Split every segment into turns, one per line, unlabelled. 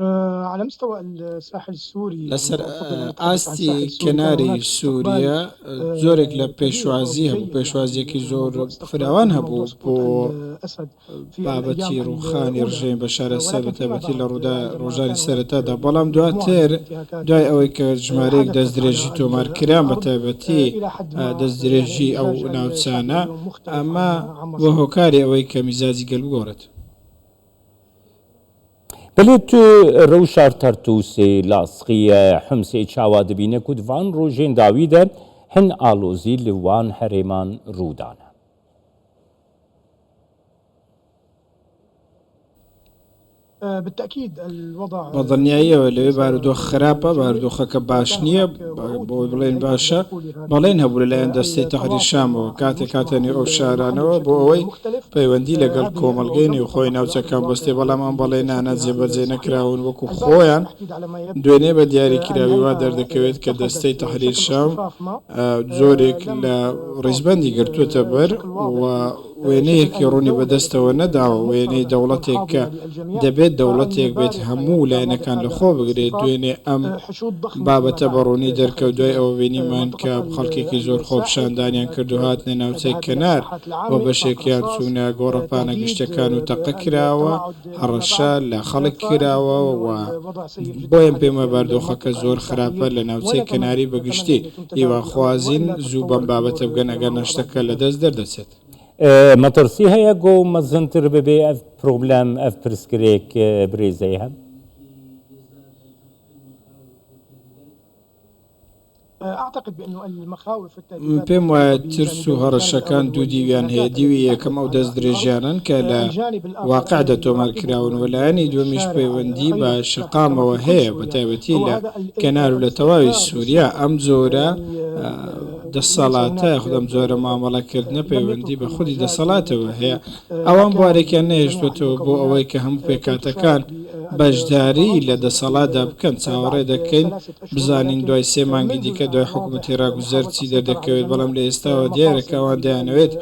على مستوى الساحل السوري لە سەر
ئاستی کەناری سووریا زۆرێک لە پێشوازی هەبوو پێشوازیەکی زۆر فراوان هەبوو بۆ بابەتی ڕوخانی ڕژێن بە شارە سەر بەتەبەتی لە ڕوودا ڕۆژانی سەرەتادا بەڵام دواتر دوای ئەوەی کە ژمارەیەک دەست درێژی تۆمار کران بە تایبەتی دەست درێژی ئەو ناوچانە ئەمە بۆ هۆکاری ئەوەی کە میزاجی گەل بگۆڕێت
بەلێ تو رەوشار تەرتووسێ لاسقیە حمسێ چاوا دبینە کوت ڤان روژێن داویدە هن ئالۆزی ل وان هەرێمان روو دانە.
بە دڵنیاییەوە لەوێ
بارودۆخ خراپە، بارودۆخەکە باش نییە بۆ ئەوەی بڵێین باشە، بەڵێن هەبوو لەلایەن دەستەی تەحریر شامەوە کاتێک هاتە نێو ئەو شارانەوە بۆ ئەوەی پەیوەندی لەگەڵ کۆمەڵگەی نێوخۆی ناوچەکان بەستێ بەڵام ئەم بەڵێنانە جێبەجێ نەکراون وەکو خۆیان دوێنێ بە دیاری کراوی وا دەردەکەوێت کە دەستەی تەحریر شام جۆرێک لە ڕیزبەندی گرتووەتە بەر و وێنەیەکی ڕوونی بەدەستەوە نەداوە، وێنەی دەوڵەتێک کە دەبێت دەوڵەتێک بێت هەموو لایەنەکان لەخۆ بگرێت، دوێنێ ئەم بابەتە بە ڕوونی دەرکەوت، دوای ئەوە بینیمان کە خەڵکێکی زۆر خۆپیشاندانیان کرد و هاتنە ناوچەی کەنار و بەشێکیان چوونە گۆڕەپانە گشتەکان و تەقە کراوە، هەڕەشە لە خەڵک کراوە و بۆیە پێمە باردۆخەکە زۆر خراپە لە ناوچەی کەناری بەگشتی، هیواخوازین زوو بەم بابەتە بگەن ئەگەرنا شتەکە لە دەست دەردەچێت. مەتڕسی
هەیە گۆو مەزنتر ببێ ئەڤ پرۆبلەم ئەڤ پرسگرێک برێزەێ هەم.
پێم وایە ترس و هەڕەشەکان دوو دیویان هەیە، دیوی یەکەم ئەو دەستدرێژیانەن کە لە واقعدا تۆمارکراون و لایەنی دووەمیش پەیوەندی بە شەقامەوە هەیە، بەتایبەتی لە کەنار و لە تەواوی سوریا ئەم جۆرە دەسەڵاتە یاخود ئەم جۆرە مامەڵەکردنە پەیوەندی بە خودی دەسەڵاتەوە هەیە. ئەوان بوارێکیان نەهێشتۆتەوە بۆ ئەوەی کە هەموو پێکهاتەکان بەشداری لە دەسەڵاتدا بکەن، چاوەڕێ دەکەین بزانین دوای سێ مانگی دیکە دوای حکومەتی ڕاگوزەر چی دەردەکەوێت، بەڵام لە ئێستاوە دیارە کە ئەوان دەیانەوێت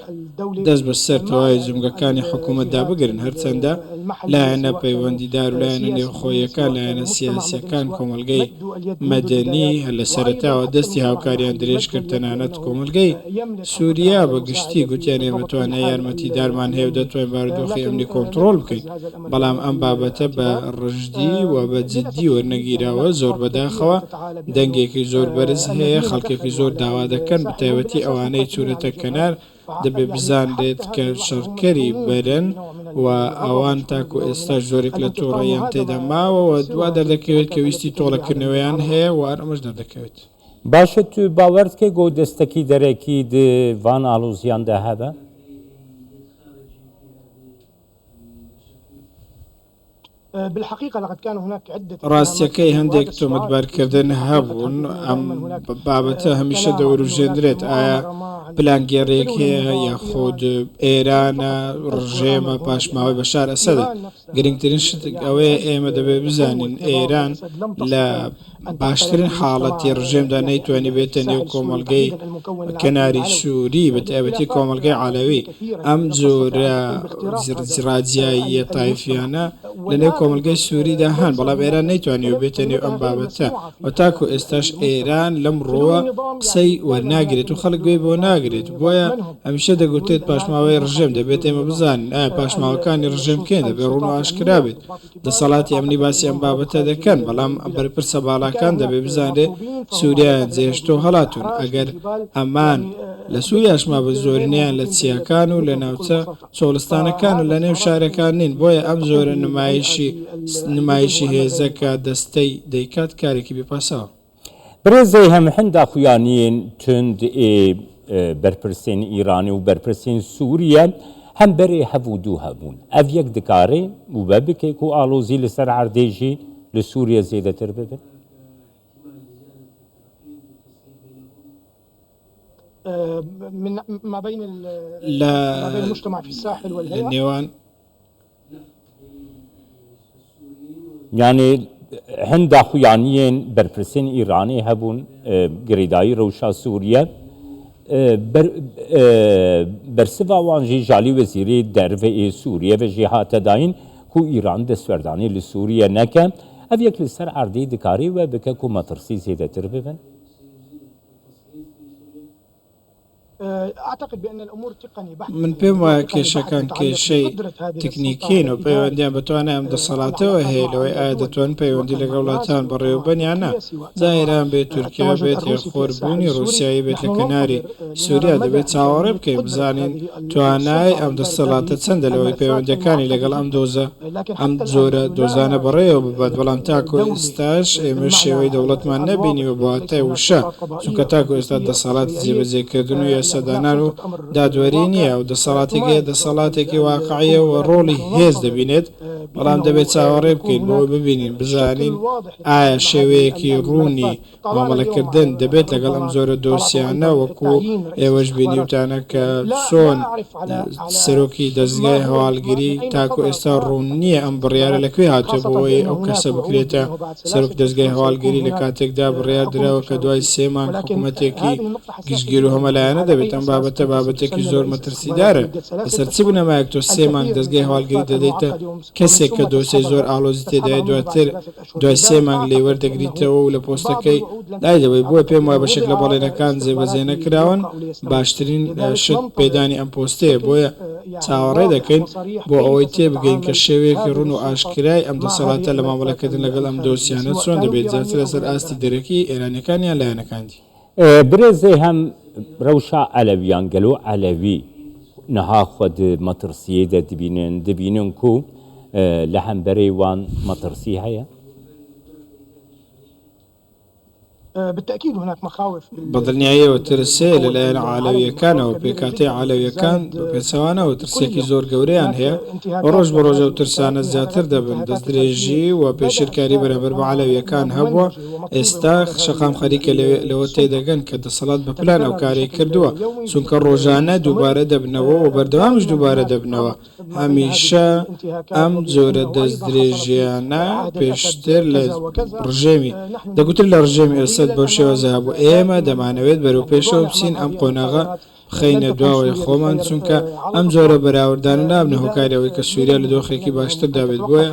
دەست بەسەر تەواوی جومگەکانی حکومەتدا بگرن، هەرچەندە لایەنە پەیوەندیدار و لایەنە نێوخۆییەکان، لایەنە سیاسییەکان، کۆمەڵگەی مەدەنی لە سەرەتاوە دەستی هاوکاریان درێژکرد، تەنانەت کۆمەڵگەی سوریا بە گشتی گوتیان ئێمە توانای یارمەتیدارمان هەیە و دەتوانین بارودۆخی ئەمنی کۆنتڕۆڵ بکەین، بەڵام ئەم بابەتە بە ڕژدی و بە جددی وەرنەگیراوە، زۆر بەداخەوە، دەنگێکی زۆر بەرز هەیە، خەڵکێکی زۆر داوا دەکەن، بەتایبەتی ئەوانەی چوونەتە کەنار، دەبێت بزانرێت کە شەڕکەری بەرن و ئەوان تاکو ئێستاش زۆرێک لە توڕەییان تێدا ماوە و وا دەردەکەوێت کە ویستی تۆڵەکردنەوەیان هەیە و ئەمەش دەردەکەوێت. باشە تو
باوەرت کەی گۆ دەستەکی دەرەکی د ڤان ئاڵوزیان دە هەبە؟
ڕاستیەکەی هەندێک تۆمەتبارکردن هەبوون ئەم بابەتە هەمیشە دەوروژێندرێت ئایا پلانگێڕێک هەیە یاخود ئێرانە ڕژێمە پاشماوەی بەشار ئەسەدە گرنگترین شت ئەوەیە ئێمە دەبێت بزانین ئێران لە باشترین حاڵەتی ڕژێمدا نەیتوانی بێتە نێو کۆمەلگەی کەناری سووری بەتابەتی کۆمەلگەی عالەوی ئەم جۆرە زرجڕاجاییە تایفیانە لە نێو کۆمەلگەی سووریدا هەن بەڵام ئێران نەیتوانی و بێتە نێو ئەم بابەتە و تاکو ئێستاش ئێران لەم ڕووە قسەی وەرناگرێت و خەڵک گوێی بۆ ناگرێت بۆیە هەمیشە دەگوترێت پاشماوەی ڕژێم دەبێت ئێمە بزانین ئایا پاشماوەکانی ڕژێم کێن دەبێت ڕوون و ئاشکرا بێت دەسەڵاتی ئەمنی باسی ئەم بابەتە دەکەن بەڵام بەرپرسە باڵاکان دەبێت بزانرێت سوریایان جێهێشتۆ هەڵاتوون ئەگەر ئەمان لە سوریاش مابن زۆرینەیان لە چیاکان و لە ناوچە چۆڵستانەکان و لە نێو شارەکان نین بۆیە ئەم زۆرە نمایشی نمایشی هێزە کە دەستەی دەیکات کارێکی بێ پاساوە. برێزێ
هەم هندا خویانیێن توند ئێ بەرپرسێن ئیرانی و بەرپرسێن سووریە هەم بەرێ هەڤ و دوو هەبوون. ئەڤ یەک دکارێ وبە بکێ کوو ئاڵۆزی لە سەر عەردێ ژی لە سووریە زێدەتر ببن. لە
نێوان
یانێ هن داخویانیێن بەرپرسێن ئیرانێ هەبوون گرێدایی رەوشا سووریە بەرسڤ وان ژی ژالی وەزیری دەرڤ ئی سووریە ڤە ژی هاتە داین کو ئیران دەسوەردانی لە سووریە نەکە ئەڤ یەک لە سەر عەردی دکاری وە بکە کو مەترسی زێدەتر ببن.
من پێم وایە کێشەکان کێشەی تکنیکین و پەیوەندیان بە توانای ئەم دەسەڵاتەوە هەیە لەوەی ئایا دەتوانن پەیوەندی لەگەڵ وڵاتان بەڕێوەبەن یان نا جا ئێران بێت تورکیا بێت یان خۆربوونی ڕووسیایی بێت لە کەناری سووریا دەبێت چاوەڕێ بکەین بزانین توانای ئەم دەسەڵاتە چەندە لەوەی پەیوەندییەکانی لەگەڵ ئەم دۆزە ئەم جۆرە دۆزانە بەڕێوە ببات بەڵام تاکوو ئێستاش ئێمە شێوەی دەوڵەتمان نەبینیوە بە واتای وشە چونکە تاکو ئێستا دەسەڵاتی جێبەجێکردن و یاسادانان و دادوەری نییە، ئەو دەسەڵاتەی کە هەیە دەسەڵاتێکی واقعییە و ڕۆڵی هێز دەبینێت، بەڵام دەبێت چاوەڕێ بکەین بۆئەوەی ببینین بزانین ئایا شێوەیەکی ڕوونی مامەڵەکردن دەبێت لەگەڵ ئەم جۆرە دۆسیانە وەکو ئێوەش بینیوتانە کە چۆن سەرۆکی دەزگای هەواڵگری تاکو ئێستا ڕوون نییە ئەم بڕیارە لەکوێ هاتووە بۆئەوەی ئەو کەسە بکرێتە سەرۆک دەزگای هەواڵگری لە کاتێکدا بڕیار دراوە کە دوای سێ مانگ حکومەتێکی گشتگیر و هەمەلایەنە دەبێت، ئەم بابەتە بابەتێکی زۆر مەترسیدارە، لەسەر چ بنەمایەک تۆ سێ مانگ دەزگای هەواڵگری دەدەیتە کەسێک کە دۆسێی زۆر ئاڵۆزی تێدایە دواتر دوای سێ مانگ لێی وەردەگریتەوە و لە پۆستەکەی لایدەبەی، بۆیە پێم وایە بەشێک لە بەڵێنەکان جێبەجێنەکراون، باشترین شت پێدانی ئەم پۆستەیە، بۆیە. چاوەڕێ دەکەین بۆ ئەوەی تێبگەین کە شێوەیەکی ڕوون و ئاشکرای ئەم دەسەڵاتە لە مامەڵەکردن لەگەڵ ئەم دۆسیانە چۆن دەبێت زیاتر لەسەر ئاستی دەرەکی ئێرانیەکان یان لایەنەکان دی. برێ زێ
هەم رەوشا عەلەویان گەلۆ عەلەوی نها خوە د مەتڕسیەی دە دبینن دبینن کو لە هەمبەرەی وان مەتڕسی هەیە؟
بەدڵنیاییەوە
ترسێ لەلایەن عەلەوییەکانەوە، پێکهاتەی عەلەوییەکان بەپێچەوانەوە ترسێکی زۆر گەورەیان هەیە و ڕۆژ بە ڕۆژ ئەو ترسانە زیاتر دەبن، دەستدرێژی و پێشێلکاری بەرامبەر بە عەلەوییەکان هەبووە، ئێستا شەقام خەریکە لەوە تێدەگەن کە دەسەڵات بە پلان ئەو کارەی کردووە، چونکە ڕۆژانە دووبارە دەبنەوە و بەردەوامیش دووبارە دەبنەوە. هەمیشە ئەم جۆرە دەستدرێژییانە پێشتر لە ڕژێمی دەگوتر لە ڕژێمی ئەسەد بەو شێوەزە هەبوو ئێمە دەمانەوێت بەرەو پێشەوە بچین ئەم قۆناغە بخەینە دواوەی خۆمان چونکە ئەم جۆرە بەراوردانە نابنە هۆکاری ئەوەی کە سووریا لە دۆخێکی باشتردا بێت بۆیە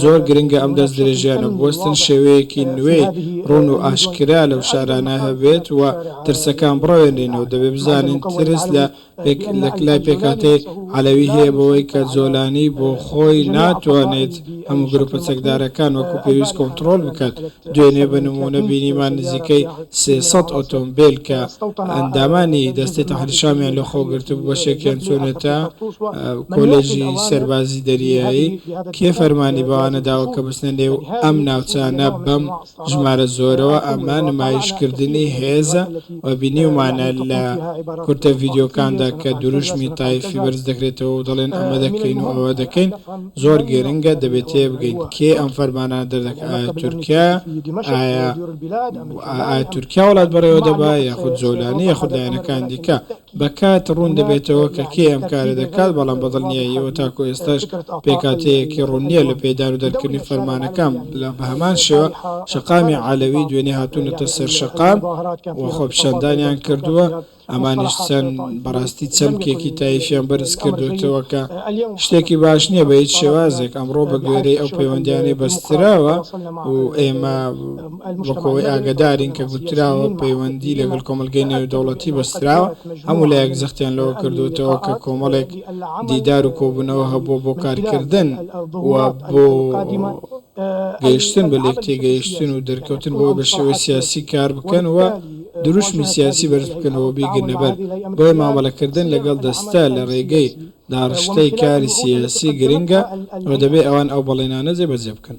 زۆر گرنگە ئەم دەستدرێژیانە بوەستن شێوەیەکی نوێی ڕوون و ئاشکرا لەو شارانە هەبێت و ترسەکان بڕەوێنرێنەوە دەبێت بزانین ترس لە یەک لای پێکهاتەی عەلەوی هەیە بەوەی کە جۆلانی بۆ خۆی ناتوانێت هەموو گروپە چەکدارەکان وەکو پێویست کۆنتڕۆڵ بکات، دوێنێ بە نموونە بینیمان نزیکەی سێ سەد ئۆتۆمبێل کە ئەندامانی دەستەی تەحریر شامیان لە خۆ گرتبوو بەشێکیان چوونەتە کۆلێژی سەربازی دەریایی، کێ فەرمانی بەوانە داوە کە بچنە نێو ئەم ناوچانە بەم ژمارە زۆرەوە ئەمە نمایشکردنی هێزە و بینیومانە لە کورتە ڤیدیۆکاندا کە دروشمی تایفی بەرز دەکرێتەوە و دەڵێن ئەمە دەکەین و ئەوە دەکەین زۆر گرنگە دەبێت تێبگەین کێ ئەم فەرمانانە دەردەکات ئایا تورکیایە ئایا تورکیا وڵات بەڕێوە دەبات یاخود جۆلانی یاخود لایەنەکان دیکە بە کات ڕوون دەبێتەوە کە کێ ئەم کارە دەکات، بەڵام بە دڵنیاییەوە تاکوو ئێستاش پێکهاتەیەکی ڕوون نییە لە پێدان و دەرکردنی فەرمانەکان، بە هەمان شێوە شەقامی عەلەوی دوێنێ هاتوونەتە سەر شەقام و خۆپیشاندانیان کردووە، ئەمانیش چەند بەڕاستی چەمکێکی تایفیان بەرز کردۆتەوە کە شتێکی باش نییە بە هیچ شێوازێک، ئەمڕۆ بە گوێرەی ئەو پەیوەندیانەی بەستراوە و ئێمە. وەکو ئەوەی ئاگەدارین کە گوتراوە پەیوەندی لەگەڵ کۆمەڵگەی نێودەوڵەتی بەستراوە، هەموو لایەک جەختیان لەوە کردووەتەوە کە کۆمەڵێک دیدار و کۆبوونەوە هەبووە بۆ کارکردن و بۆ گەیشتن بە لێکتێگەیشتن و دەرکەوتن بەوەی بە شێوەی سیاسی کار بکەن و دروشمی سیاسی بەرز بکەن و بیگرنە بەر، بۆیە مامەڵەکردن لەگەڵ دەستە لە ڕێگەی داڕشتەی کاری سیاسی گرنگە و دەبێت ئەوان ئەو بەڵێنانە جێبەجێ بکەن.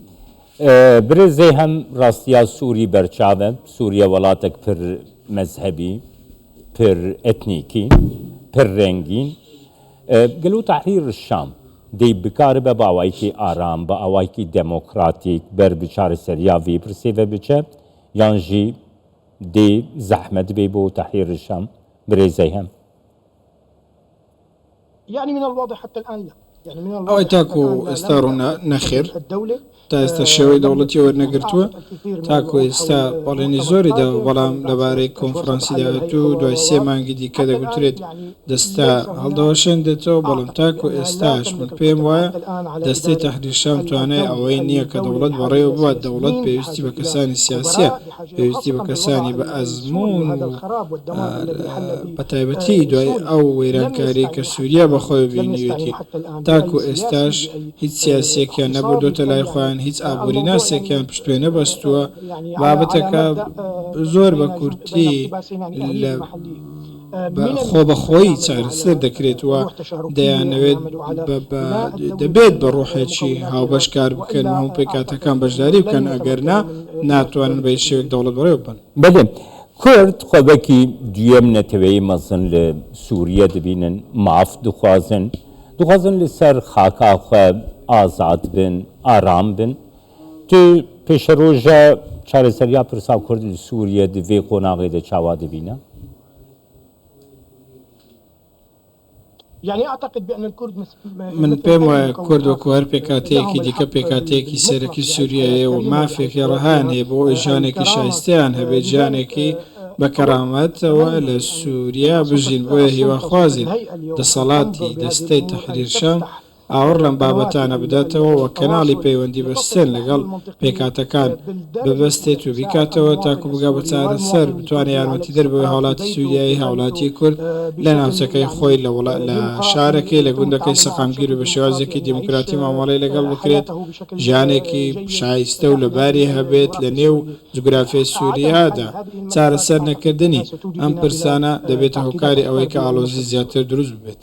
برێ
زێ هەم ڕاستیا سوری بەرچاڤە، سوریە وەڵاتەک پر مەزهەبی، پر ئەتنیکی، پر رەنگین، گەلۆ تەحریر شام دەی بکاربە بە ئاوایکی ئارام، بە ئاوایکی دمۆکراتیک بەر بی چارەسەریا ڤی پرسیڤە بچە، یان ژی دەی زەحمەت بی بۆ تەحریر شام برێ زێ هەم.
ئەوەی تاکو ئێستا ڕوونە،
نەخێر، تا ئێستا شێوەی دەوڵەتی وەرنەگرتووە، تاکو ئێستا بەڵێنی زۆری داوە، بەڵام لەبارەی کۆنفرانسی داهاتوو و دوای سێ مانگی دیکە دەگوترێت دەستە هەڵدەوەشێنرێتەوە، بەڵام تاکو ئێستاش من پێم وایە دەستەی تەحریر شام توانای ئەوەی نییە کە دەوڵەت بەڕێوە ببات، دەوڵەت پێویستی بە کەسانی سیاسییە. پێویستی بە کەسانی بە ئەزموون و بە تایبەتی دوای ئەو وەیرانکاری کە سوریا بە خۆی بینیوێتی تاکو ئێستاش هیچ سیاسیەکیان نەبردۆتە لای خۆیان هیچ ئابوری ناسێکیان پشتێ نەبەستووە بابەتەکە زۆر بە کورتی لە بە خۆبەخۆیی چارەسەر دەکرێت و دەیانەوێت بە دەبێت بە ڕۆحێکی هاوبەش کار بکەن و هەموو پێکاتەکان بەشداری بکەن ئەگەر نا ناتوانن بە هیچ شێوەیەک دەوڵەت بەڕێوە ببەن. بەلێ
کورد خۆبەکی دویەم نەتەوەیی مەزن لە سوریە دبینن ماف دخوازن دخوازن لە سەر خاکا خۆ ئازاد بن ئارام بن تی پیشروژە چارەسەریا پرسا کورد ل سوریە د ڤی قۆناغیدا چاوا دبینە؟
من پێم
وایە کورد وەکو هەر پێکهاتەیەکی دیکە پێکهاتەیەکی سەرەکی سوریایە و مافێکی ڕەهایان هەیە بۆ ئەوەی ژیانێکی شایستەیان هەبێت، ژیانێکی بە کەرامەتەوە لە سوریا بژین، بۆیە هیواخوازین دەسەڵاتی دەستەی تەحریر شام، ئاوڕ لەم بابەتانە بداتەوە و کەناڵی پەیوەندی بە سێن لەگەڵ پێکهاتەکان ببەستێت و بیکاتەوە تاکو بگا بە چارەسەر بتوانێت یارمەتیدەر بەوەی هاوڵاتی سوریایی هاوڵاتی کورد لە ناوچەکەی خۆی لە وڵا لە شارەکەی لە گوندەکەی سەقامگیر و بە شێوازێکی دیموکراتی مامەڵەی لەگەڵ بکرێت ژیانێکی شایستە و لەباری هەبێت لە نێو جوگرافیای سوریادا چارەسەر نەکردنی ئەم پرسانە دەبێتە هۆکاری ئەوەی کە ئاڵۆزی زیاتر دروست ببێت.